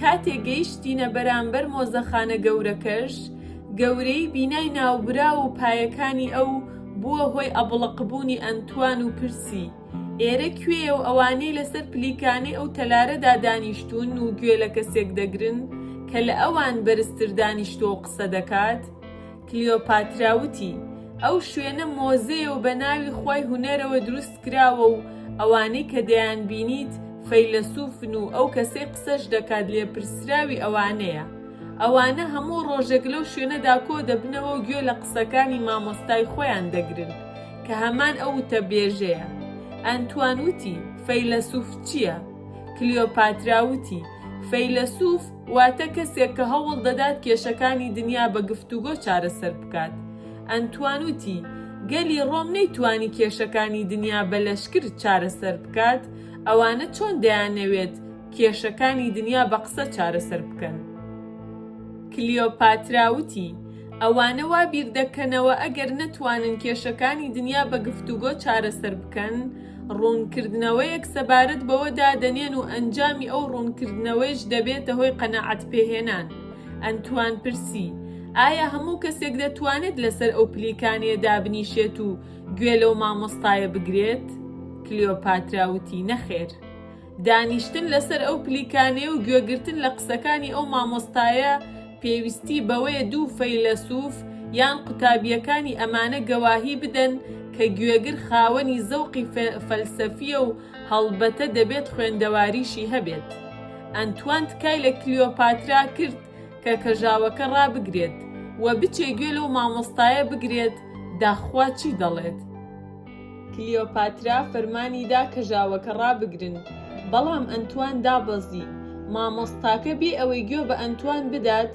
کاتێک گەیشتینە بەرامبەر مۆزەخانە گەورەکەش، گەورەیی بینای ناوبراو و پایەکانی ئەو بووە هۆی ئەبڵەقبوونی ئەنتوان و پرسی، ئێرە کوێیە و ئەوانەی لەسەر پلیکانەی ئەو تەلارەدا دانیشتوون و گوێ لە کەسێک دەگرن کە لە ئەوان بەرزتر دانیشتووە و قسە دەکات؟ کلیۆپاترا وتی، ئەو شوێنە مۆزەیە و بە ناوی خوای هونەرەوە دروست کراوە و ئەوانەی کە دەیانبینیت فەیلەسوفن و ئەو کەسەی قسەش دەکات لێپرسراوی ئەوانەیە. ئەوانە هەموو ڕۆژێک لەو شوێنەدا کۆ دەبنەوە و گوێ لە قسەکانی مامۆستای خۆیان دەگرن کە هەمان ئەو وتەبێژەیە. ئەنتوان وتی، فەیلەسوف چییە؟ کلیۆپاترا وتی، فەیلەسوف، واتە کەسێک کە هەوڵ دەدات کێشەکانی دنیا بە گفتوگۆ چارەسەر بکات. ئەنتوان وتی، گەلی ڕۆم نەیتوانی کێشەکانی دنیا بە لەشکر چارەسەر بکات، ئەوانە چۆن دەیانەوێت کێشەکانی دنیا بە قسە چارەسەر بکەن؟ کلیۆپاترا وتی، ئەوانە وا بیر دەکەنەوە ئەگەر نەتوانن کێشەکانی دنیا بە گفتوگۆ چارەسەر بکەن، ڕوونکردنەوەیەک سەبارەت بەوە دادەنێن و ئەنجامی ئەو ڕوونکردنەوەیش دەبێتە هۆی قەناعەت پێهێنان. ئەنتوان پرسی، ئایا هەموو کەسێک دەتوانێت لەسەر ئەو پلیکانەیە دابنیشێت و گوێ لەو مامۆستایە بگرێت؟ کلیۆپاترا وتی، نەخێر. دانیشتن لەسەر ئەو پلیکانەیە و گوێگرتن لە قسەکانی ئەو مامۆستایە پێویستی بەوەیە دوو فەیلەسوف یان قوتابیەکانی ئەمانە گەواهی بدەن کە گوێگر خاوەنی زەوقی فەلسەفیە و هەڵبەتە دەبێت خوێندەواریشی هەبێت ئەنتوان تکای لە کلیۆپاترا کرد کە کەژاوەکە ڕابگرێت و بچێ گوێ لەو مامۆستایە بگرێت داخوا چی دەڵێت کلیۆپاترا فەرمانی دا کە ژاوەکە ڕابگرن، بەڵام ئەنتوان دابەزی. مامۆستاکە بێ ئەوەی گوێ بە ئەنتوان بدات،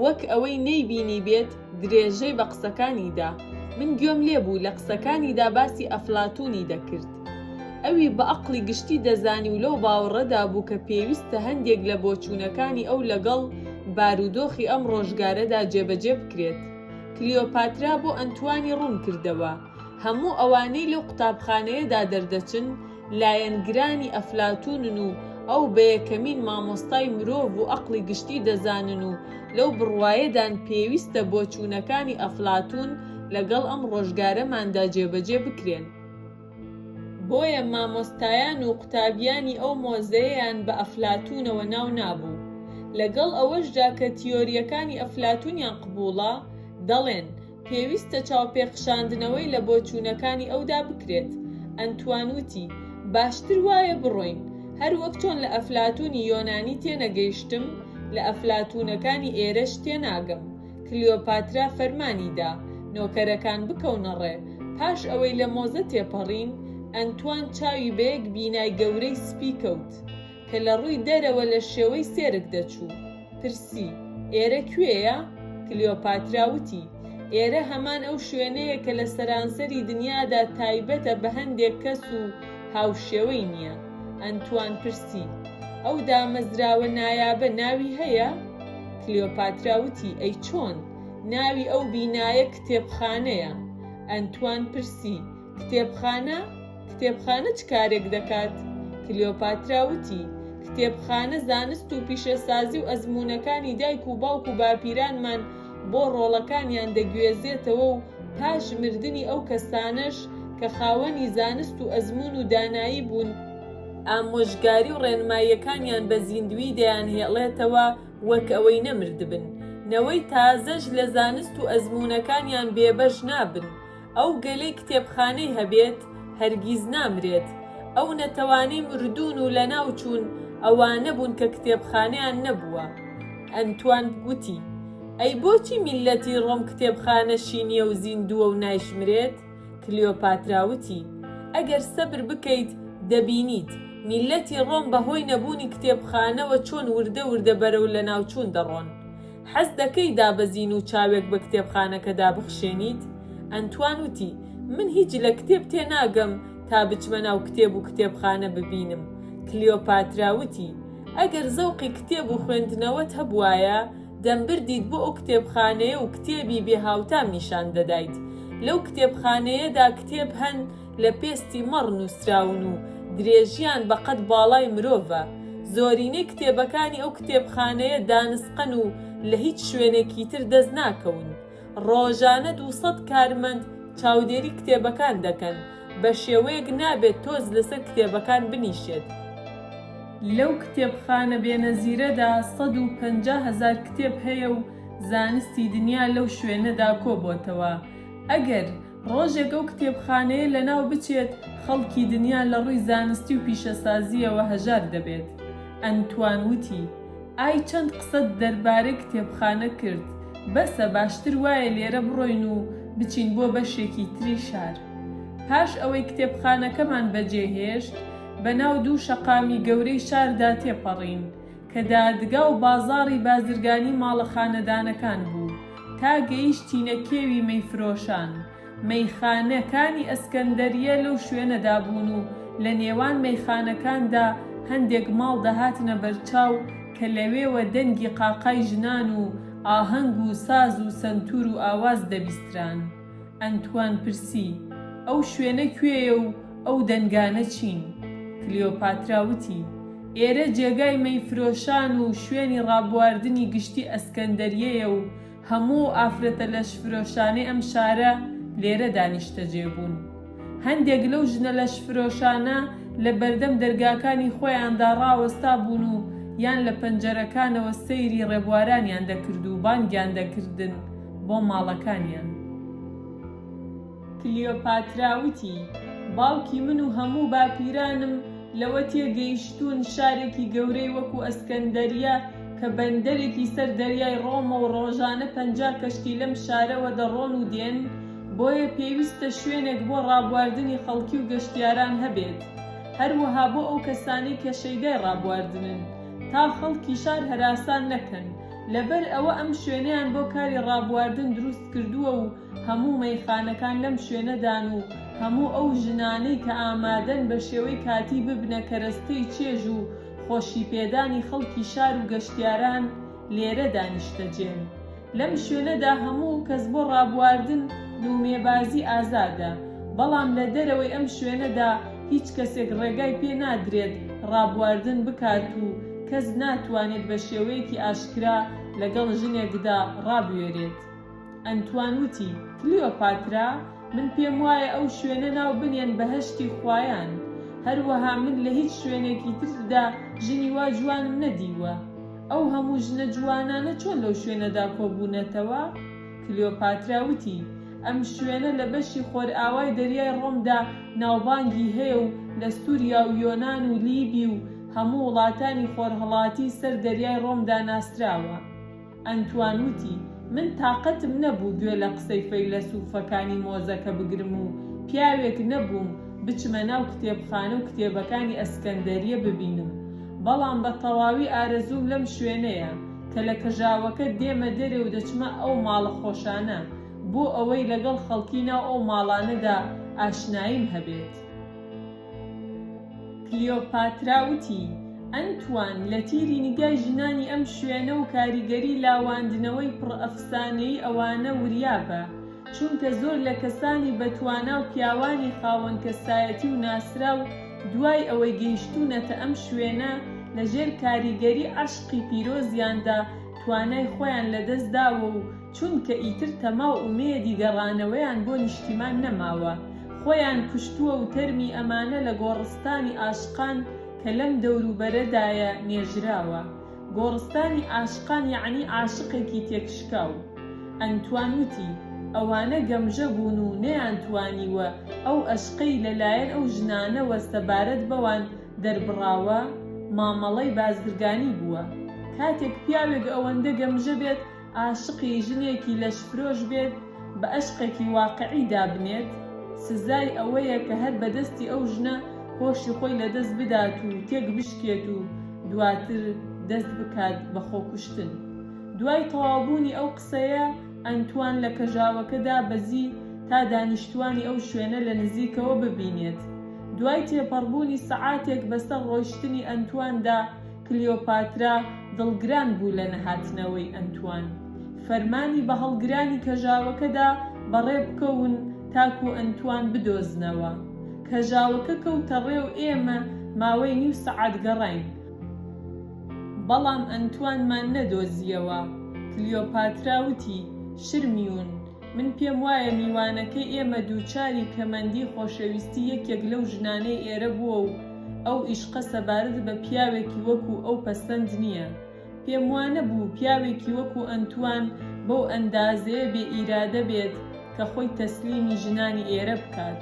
وەک ئەوەی نەیبینیبێت، درێژەی بە قسەکانی دا. من گوێم لێ بوو، لە قسەکانیدا باسی ئەفلاتوونی دەکرد. ئەوی بە ئەقڵی گشتی دەزانی و لەو باوەڕەدا بوو کە پێویستە هەندێک لە بۆچوونەکانی ئەو لەگەڵ بارودۆخی ئەم ڕۆژگارەدا جێبەجێ بکرێت. کلیۆپاترا بۆ ئەنتوانی ڕوون کردەوە. هەموو ئەوانەی لەو قوتابخانەیەدا دەردەچن لایەنگرانی ئەفلاتوونن و ئەو بە یەکەمین مامۆستای مرۆڤ و ئەقڵی گشتی دەزانن و لەو بڕوایەدان پێویستە بۆچوونەکانی ئەفلاتوون لەگەڵ ئەم ڕۆژگارەماندا جێبەجێ بکرێن. بۆیە مامۆستایان و قوتابیانی ئەو مۆزەیەیان بە ئەفلاتوونەوە ناو نابوو. لەگەڵ ئەوەشدا کە تیۆرییەکانی ئەفلاتوونیان قبووڵە، دەڵێن، پێویستە چاوپێخشاندنەوەی لە بۆچوونەکانی ئەودا بکرێت. ئەنتوان وتی، باشتر وایە بڕۆین. هەر وەک چۆن لە ئەفلاتوونی یۆنانی تێنەگەیشتم، لە ئەفلاتوونەکانی ئێرەش تێناگەم. کلیۆپاترا فەرمانی دا، نۆکەرەکان بکەونە ڕێ. پاش ئەوەی لە مۆزە تێپەڕین، ئەنتوان چاوی بە یەک بینای گەورەی سپی کەوت. کە لە ڕووی دەرەوە لە شێوەی سێرک دەچوو، پرسی، ئێرە کوێیە؟ کلیۆپاترا وتی، ئێرە هەمان ئەو شوێنەیە کە لە سەرانسەری دنیادا تایبەتە بە هەندێک کەس و هاوشێوەی نییە. ئەنتوان پرسی، ئەو دامەزراوە نایابە ناوی هەیە؟ کلیۆپاترا وتی، ئەی چۆن؟ ناوی ئەو بینایە کتێبخانەیە. ئەنتوان پرسی، کتێبخانە، کتێبخانە چ کارێک دەکات؟ کلیۆپاترا وتی، کتێبخانە زانست و پیشەسازی و ئەزموونەکانی دایک و باوک و باپیرانمان بۆ ڕۆڵەکانیان دەگوێزێتەوە و پاش مردنی ئەو کەسانەش کە خاوەنی زانست و ئەزموون و دانایی بوون، ئامۆژگاری و ڕێنماییەکانیان بە زیندوویی دەیانهێڵێتەوە وەک ئەوەی نەمردبن، نەوەی تازەش لە زانست و ئەزموونەکانیان بێبەش نابن، ئەو گەلەی کتێبخانەی هەبێت هەرگیز نامرێت، ئەو نەتەوانەی مردوون و لەناوچوون ئەوانە بوون کە کتێبخانەیان نەبووە. ئەنتوان گوتی، ئەی بۆچی میللەتی ڕۆم کتێبخانە شینییە و زیندووە و نایشمرێت؟ کلیۆپاترا وتی، ئەگەر سەبر بکەیت دەبینیت، میللەتی ڕۆم بەهۆی نەبوونی کتێبخانەوە چۆن وردە وردە بەرەو لەناوچوون دەڕۆن. حەز دەکەی دابەزین و چاوێک بە کتێبخانەکەدا بخشێنیت؟ ئەنتوان وتی، من هیچ لە کتێب تێناگەم تا بچمە ناو کتێب و کتێبخانە ببینم. کلیۆپاترا وتی، ئەگەر زەوقی کتێب و خوێندنەوەت هەبووایە، دەمبردیت بۆ ئەو کتێبخانەیە و کتێبی بێهاوتام نیشان دەدایت. لەو کتێبخانەیەدا کتێب هەن، لە پێستی مەڕ نووسراون و درێژییان بە قەد باڵای مرۆڤە. زۆرینەی کتێبەکانی ئەو کتێبخانەیە دانسقەن و لە هیچ شوێنێکی تر دەست ناکەون. ڕۆژانە دوو سەد کارمەند چاودێری کتێبەکان دەکەن، بە شێوەیەک نابێت تۆز لەسەر کتێبەکان بنیشێت. لەو کتێبخانە بێنەزیرەدا سەد و پەنجا هەزار کتێب هەیە و زانستی دنیا لەو شوێنەدا کۆبۆتەوە. ئەگەر. ڕۆژێک ئەو کتێبخانەیە لەناو بچێت، خەڵکی دنیا لە ڕووی زانستی و پیشەسازییەوە هەژار دەبێت. ئەنتوان وتی، ئای چەند قسەت دەربارەی کتێبخانە کرد، بەسە باشتر وایە لێرە بڕۆین و بچین بۆ بەشێکی تری شار. پاش ئەوەی کتێبخانەکەمان بەجێهێشت، بەناو دوو شەقامی گەورەی شاردا تێپەڕین، کە دادگا و بازاڕی بازرگانی ماڵە خانەدانەکان بوو، تا گەیشتینە کێوی مەیفرۆشان، مەیخانە کانی ئەسکەندەرییە لەو شوێنەدا بوون و لە نێوان مەیخانەکاندا هەندێک ماڵ دەهاتنە بەرچاو کە لەوێوە دەنگی قاقای ژنان و ئاهەنگ و ساز و سەنتوور و ئاواز دەبیستران. ئەنتوان پرسی، ئەو شوێنە کوێیە و ئەو دەنگانە چین؟ کلیۆپاترا وتی، ئێرە جێگای مەیفرۆشان و شوێنی ڕابواردنی گشتی ئەسکەندەریەیە و هەموو ئەو ئافرەتە لەشفرۆشانەی ئەم شارە لێرەدا نیشتەجێ بوون. هەندێک لەو ژنە لەشفرۆشانە لە بەردەم دەرگاکانی خۆیاندا ڕاوەستابوون و یان لە پەنجەرەکانەوە سەیری ڕێبوارانیان دەکرد و بانگیان دەکردن بۆ ماڵەکانیان. کلیۆپاترا وتی، باوکی من و هەموو باپیرانم لەوە تێگەیشتوون شارێکی گەورەی وەکوو ئەسکەندەرییە کە بەندەرێکی سەر دەریای ڕۆمە و ڕۆژانە پەنجا کەشتی لەم شارەوە دەڕۆن و دێن، بۆیە پێویستە شوێنێک بۆ ڕابواردنی خەڵکی و گەشتیاران هەبێت، هەروەها بۆ ئەو کەسانەی کە شەیدای ڕابواردنن، تا خەڵکی شار هەراسان نەکەن، لەبەر ئەوە ئەم شوێنەیان بۆ کاری ڕابواردن دروستکردووە و هەموو مەیخانەکان لەم شوێنەدان و هەموو ئەو ژنانەی کە ئامادەن بە شێوەی کاتی ببنە کەرەستەی چێژ و خۆشیپێدانی خەڵکی شار و گەشتیاران لێرەدا نیشتەجێن. لەم شوێنەدا هەموو کەس بۆ ڕابواردن دوومێبازی ئازادە، بەڵام لە دەرەوەی ئەم شوێنەدا هیچ کەسێک ڕێگای پێ نادرێت ڕابواردن بکات و کەس ناتوانێت بە شێوەیەکی ئاشکرا لەگەڵ ژنێکدا ڕابوێرێت. ئەنتوان وتی، کلیۆپاترا، من پێموایە ئەو شوێنە ناو بنێن بەهەشتی خوایان. هەروەها من لە هیچ شوێنێکی تردا ژنی وا جوانم نەدیوە. ئەو هەموو ژنە جوانانە چۆن لەو شوێنەدا کۆبوونەتەوە؟ کلیۆپاترا وتی، ئەم شوێنە لە بەشی خۆرئاوای دەریای ڕۆمدا ناوبانگی هەیە و لە سووریا و یۆنان و لیبی و هەموو وڵاتانی خۆرهەڵاتی سەر دەریای ڕۆمدا ناسراوە. ئەنتوان وتی، من تاقەتم نەبوو گوێ لە قسەی فەیلەسووفەکانی مۆزەکە بگرم و پیاوێک نەبووم بچمە ناو کتێبخانە و کتێبەکانی ئەسکەندەرییە ببینم، بەڵام بە تەواوی ئارەزووم لەم شوێنەیە، کە لە کەژاوەکە دێمە دەرێ و دەچمە ئەو ماڵە خۆشانە، بۆ ئەوەی لەگەڵ خەڵکی ناو ئەو ماڵانەدا ئاشناییم هەبێت. کلیۆپاترا وتی، ئەنتوان، لە تیری نیگای ژنانی ئەم شوێنە و کاریگەری لاواندنەوەی پڕئەفسانەیی ئەوانە وریا بە، چونکە زۆر لە کەسانی بەتوانا و پیاوانی خاوەن کەسایەتی و ناسراو دوای ئەوەی گەیشتوونەتە ئەم شوێنە لە ژێر کاریگەری عەشقی پیرۆزیاندا توانای خۆیان لە دەست داوە و چونکە ئیتر تەما و ئومێدی گەڕانەوەیان بۆ نیشتیمان نەماوە خۆیان کوشتووە و تەرمی ئەمانە لە گۆڕستانی عاشقان کە لەم دەوروبەرەدایە نێژراوە. گۆڕستانی عاشقان یەعنی عاشقێکی تێکشکاو. ئەنتوان وتی، ئەوانە گەمژە بوون و نەیانتوانیوە ئەو ئەشقەی لە لایەن ئەو ژنانەوە سەبارەت بەوان دەربڕاوە، مامەڵەی بازرگانی بووە. کاتێک پیاوێک ئەوەندە گەمژە بێت عاشقی ژنێکی لەشفرۆش بێت بە ئەشقێکی واقعی دابنێت سزای ئەوەیە کە هەر بە دەستی ئەو ژنە هۆشی خۆی لە دەست بدات و تێک بشکێت و دواتر دەست بکات بە خۆکوشتن دوای تەواوبوونی ئەو قسەیە ئەنتوان لە کەژاوەکە دابەزی تا دانیشتوانی ئەو شوێنە لە نزیکەوە ببینێت دوای تێپەڕبوونی سەعاتێک بەسەر ڕۆیشتنی ئەنتواندا کلیۆپاترا دڵگران بوو لە نەهاتنەوەی ئەنتوان، فەرمانی بە هەڵگرانی کەژاوەکە دا بەڕێ بکەون تاکوو ئەنتوان بدۆزنەوە. کەژاوەکە کەوتە ڕێ و ئێمە ماوەی نیو سەعات گەڕاین، بەڵام ئەنتوانمان نەدۆزییەوە. کلیۆپاترا وتی، شرمیون، من پێم وایە میوانەکەی ئێمە دووچاری کەمەندی خۆشەویستی یەکێک لەو ژنانەی ئێرە بووە و، ئەو ئیشقە سەبارەت بە پیاوێکی وەکو ئەو پەسەند نییە. پێم وا نەبوو پیاوێکی وەکو ئەنتوان بەو ئەندازەیە بێ ئیرادە بێت کە خۆی تەسلیمی ژنانی ئێرە بکات.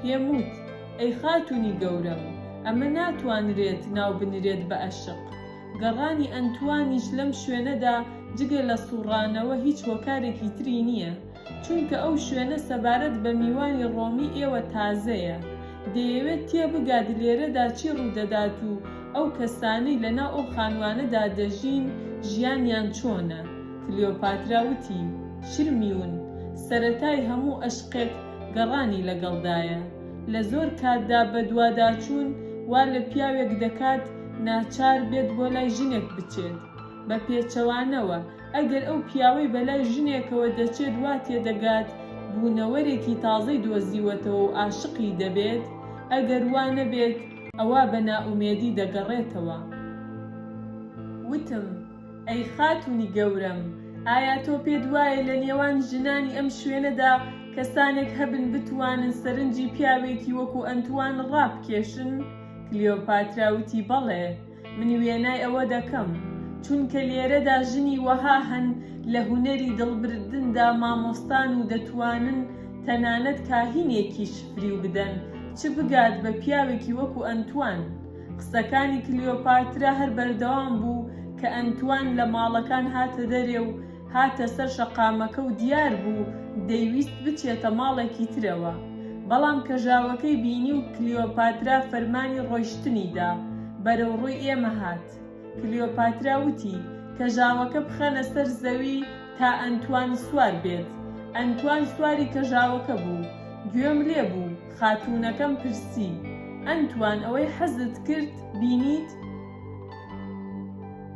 پێم وت، ئەی خاتوونی گەورەم، ئەمە ناتوانرێت ناو بنرێت بە ئەشق. گەڕانی ئەنتوانیش لەم شوێنەدا جگە لە سووڕانەوە هیچ هۆکارێکی تری نییە. چونکە ئەو شوێنە سەبارەت بە میوانی ڕۆمی ئێوە تازەیە، دەیەوێت تێبگات لێرەدا چی ڕوودەدات و ئەو کەسانەی لەناو ئەو خانووانەدا دەژین ژیانیان چۆنە. کلیۆپاترا وتی، شرمیون، سەرەتای هەموو ئەشقێک گەڕانی لەگەڵدایە. لە زۆر کاتدا بەدواداچوون وا لە پیاوێک دەکات ناچار بێت بۆ لای ژنێک بچێت، بە پێچەوانەوە، ئەگەر ئەو پیاوەی بەلای ژنێکەوە دەچێت وا تێدەگات بوونەوەرێکی تازەی دۆزیوەتەوە و عاشقی دەبێت، ئەگەر وا نەبێت ئەوا بە نائومێدی دەگەڕێتەوە. وتم، ئەی خاتوونی گەورەم، ئایا تۆ پێت وایە لە نێوان ژنانی ئەم شوێنەدا کەسانێک هەبن بتوانن سەرنجی پیاوێکی وەکوو ئەنتوان ڕابکێشن؟ کلیۆپاترا وتی، بەڵێ. من وێنای ئەوە دەکەم، چونکە لێرەدا ژنی وەها هەن لە هونەری دڵبردندا مامۆستان و دەتوانن تەنانەت کاهینێکیش فریو بدەن، چ بگات بە پیاوێکی وەکو ئەنتوان. قسەکانی کلیۆپاترا هەر بەردەوام بوو کە ئەنتوان لە ماڵەکان هاتە دەرێ و هاتە سەر شەقامەکە و دیار بوو دەیویست بچێتە ماڵێکی ترەوە، بەڵام کەژاوەکەی بینی و کلیۆپاترا فەرمانی ڕۆیشتنی دا، بەرەو ڕووی ئێمە هات. کلیۆپاترا وتی، کەژاوەکە بخەنە سەر زەوی تا ئەنتوان سوار بێت. ئەنتوان سواری کەژاوەکە بوو. گوێم لێ بوو، خاتوونەکەم پرسی، ئەنتوان ئەوەی حەزت کرد بینیت؟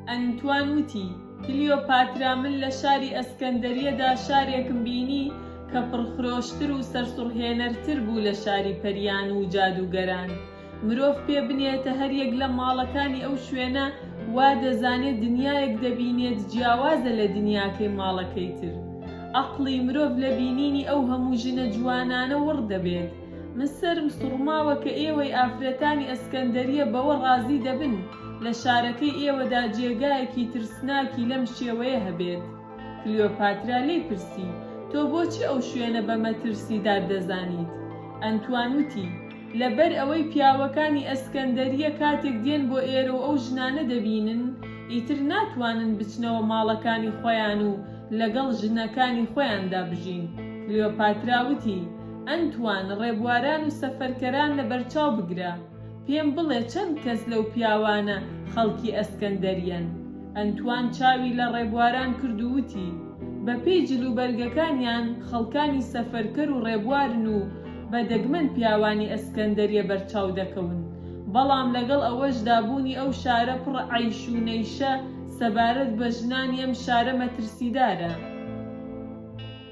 ئەنتوان وتی، کلیۆپاترا من لە شاری ئەسکەندەریەدا شارێکم بینی کە پڕخرۆشتر و سەرسوڕهێنەرتر بوو لە شاری پەریان و جادووگەران. مرۆڤ پێ بنێتە هەر یەک لە ماڵەکانی ئەو شوێنە وا دەزانێت دنیایەک دەبینێت جیاوازە لە دنیاکەی ماڵەکەی تر. ئەقڵی مرۆڤ لە بینینی ئەو هەموو ژنە جوانانە وڕ دەبێت. من سەرم سوڕماوە کە ئێوەی ئافرەتانی ئەسکەندەریە بەوە ڕازی دەبن لە شارەکەی ئێوەدا جێگایەکی ترسناکی لەم شێوەیە هەبێت. کلیۆپاترا لێی پرسی، تۆ بۆچی ئەو شوێنە بە مەترسیدار دەزانیت؟ ئەنتوان وتی، لەبەر ئەوەی پیاوەکانی ئەسکەندەریە کاتێک دێن بۆ ئێرە و ئەو ژنانە دەبینن، ئیتر ناتوانن بچنەوە ماڵەکانی خۆیان و لەگەڵ ژنەکانی خۆیاندا بژین. کلیۆپاترا وتی، ئەنتوان، ڕێبواران و سەفەرکەران لەبەرچاو بگرە، پێم بڵێ چەند کەس لەو پیاوانە خەڵکی ئەسکەندەریەن؟ ئەنتوان چاوی لە ڕێبواران کرد و وتی، بەپێی جلوبەرگەکانیان خەڵکانی سەفەرکەر و ڕێبوارن و بە دەگمەن پیاوانی ئەسکەندەریە بەرچاو دەکەون، بەڵام لەگەڵ ئەوەشدا بوونی ئەو شارە پڕ عەیش و نەیشە سەبارەت بە ژنانی ئەم شارە مەترسیدارە.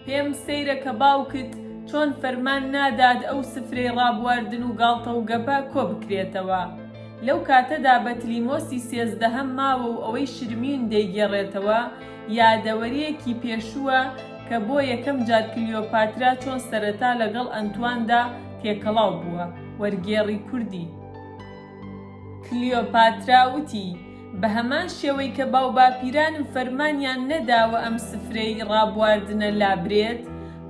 پێم سەیرە کە باوکت چۆن فەرمان نادات ئەو سفرەی ڕابواردن و گاڵتە و گەپە کۆ بکرێتەوە. لەو کاتەدا بەتلیمۆسی سێزدەهەم ماوە و ئەوەی شرمیون دەیگێڕێتەوە یادەوەرییەکی پێشووە کە بۆ یەکەم جار کلیۆپاترا چۆن سەرەتا لەگەڵ ئەنتواندا تێکەڵاو بووە. وەرگێڕی کوردی. کلیۆپاترا وتی، بەهەمان شێوەی کە باوباپیرانم فەرمانیان نەداوە ئەم سفرەی ڕابواردنە لابرێت،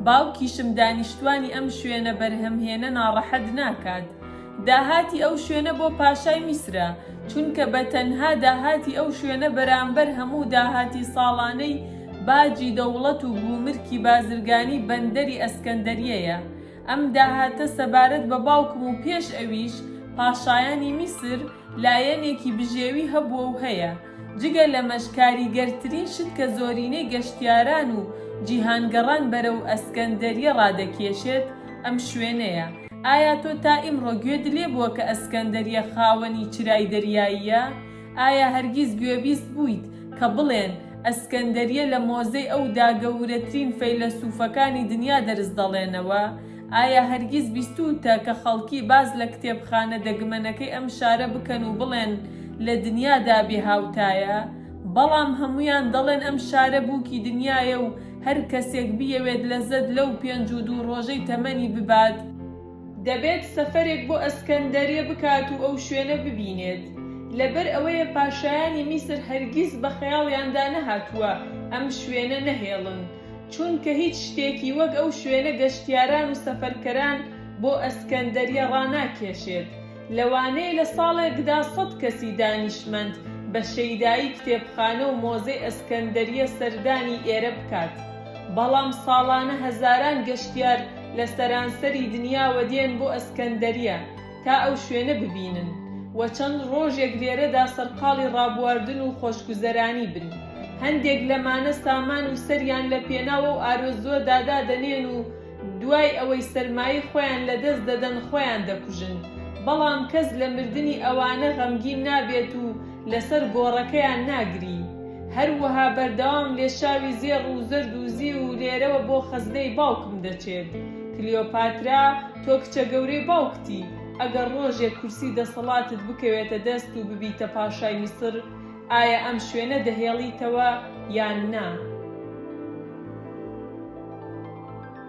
باوکیشم دانیشتوانی ئەم شوێنە بەرهەمهێنە ناڕەحەت ناکات. داهاتی ئەو شوێنە بۆ پاشای میسرە، چونکە بە تەنها داهاتی ئەو شوێنە بەرامبەر هەموو داهاتی ساڵانەی باجی دەوڵەت و گومرکی بازرگانی بەندەری ئەسکەندەریەیە. ئەم داهاتە سەبارەت بە باوکم و پێش ئەویش پاشایانی میسر لایەنێکی بژێوی هەبووە و هەیە، جگە لەمەش کاریگەرترین شت کە زۆرینەی گەشتیاران و جیهانگەڕان بەرەو ئەسکەندەریە ڕادەکێشێت ئەم شوێنەیە، ئایا تۆ تا ئیمڕۆ گوێت لێبووە کە ئەسکەندەریە خاوەنی چرای دەریاییە؟ ئایا هەرگیز گوێبیست بوویت کە بڵێن، ئەسکەندەریە لە مۆزەی ئەو دا گەوورەترین فەیلەسووفەکانی دنیا دەرس دەڵێنەوە؟ ئایا هەرگیز بیستووتە کە خەڵکی باز لە کتێبخانە دەگمەنەکەی ئەم شارە بکەن و بڵێن، لە دنیا دا بێ هاوتایە؟ بەڵام هەموویان دەڵێن ئەم شارە بووکی دنیایە و هەر کەسێک بیەوێت لەزەت لەو پێنج و دوو ڕۆژەی تەمەنی ببات، دەبێت سەفەرێک بۆ ئەسکەندەریە بکات و ئەو شوێنە ببینێت، لەبەر ئەوەیە پاشایانی میسر هەرگیز بە خەیاڵیاندا نەهاتووە ئەم شوێنە نەهێڵن، چونکە هیچ شتێکی وەک ئەو شوێنە گەشتیاران و سەفەرکەران بۆ ئەسکەندەریە ڕاناکێشێت، لەوانەیە لە ساڵێکدا سەد کەسی دانیشمەند بە شەیدایی کتێبخانە و مۆزەی ئەسکەندەریە سەردانی ئێرە بکات، بەڵام ساڵانە هەزاران گەشتیار لە سەرانسەری دنیاوە دێن بۆ ئەسکەندەریە تا ئەو شوێنە ببینن و چەند ڕۆژێک لێرەدا سەرقاڵی ڕابواردن و خۆشگوزەرانی بن. هەندێک لەمانە سامان و سەریان لە پێناو ئەو ئارەزووەدا دادەنێن و دوای ئەوەی سەرمایەی خۆیان لەدەست دەدەن خۆیان دەکوژن، بەڵام کەس لە مردنی ئەوانە غەمگین نابێت و لەسەر گۆڕەکەیان ناگری. هەروەها بەردەوام لێشاوی زێڕ و زەرد و زیو و لێرەوە بۆ خەزنەی باوکم دەچێت. کلیۆپاترا، تۆ کچە گەورەی باوکتی، ئەگەر ڕۆژێک کورسی دەسەڵاتت بکەوێتە دەست و ببیتە پاشای میسر، ئایا ئەم شوێنە دەهێڵیتەوە یان نا؟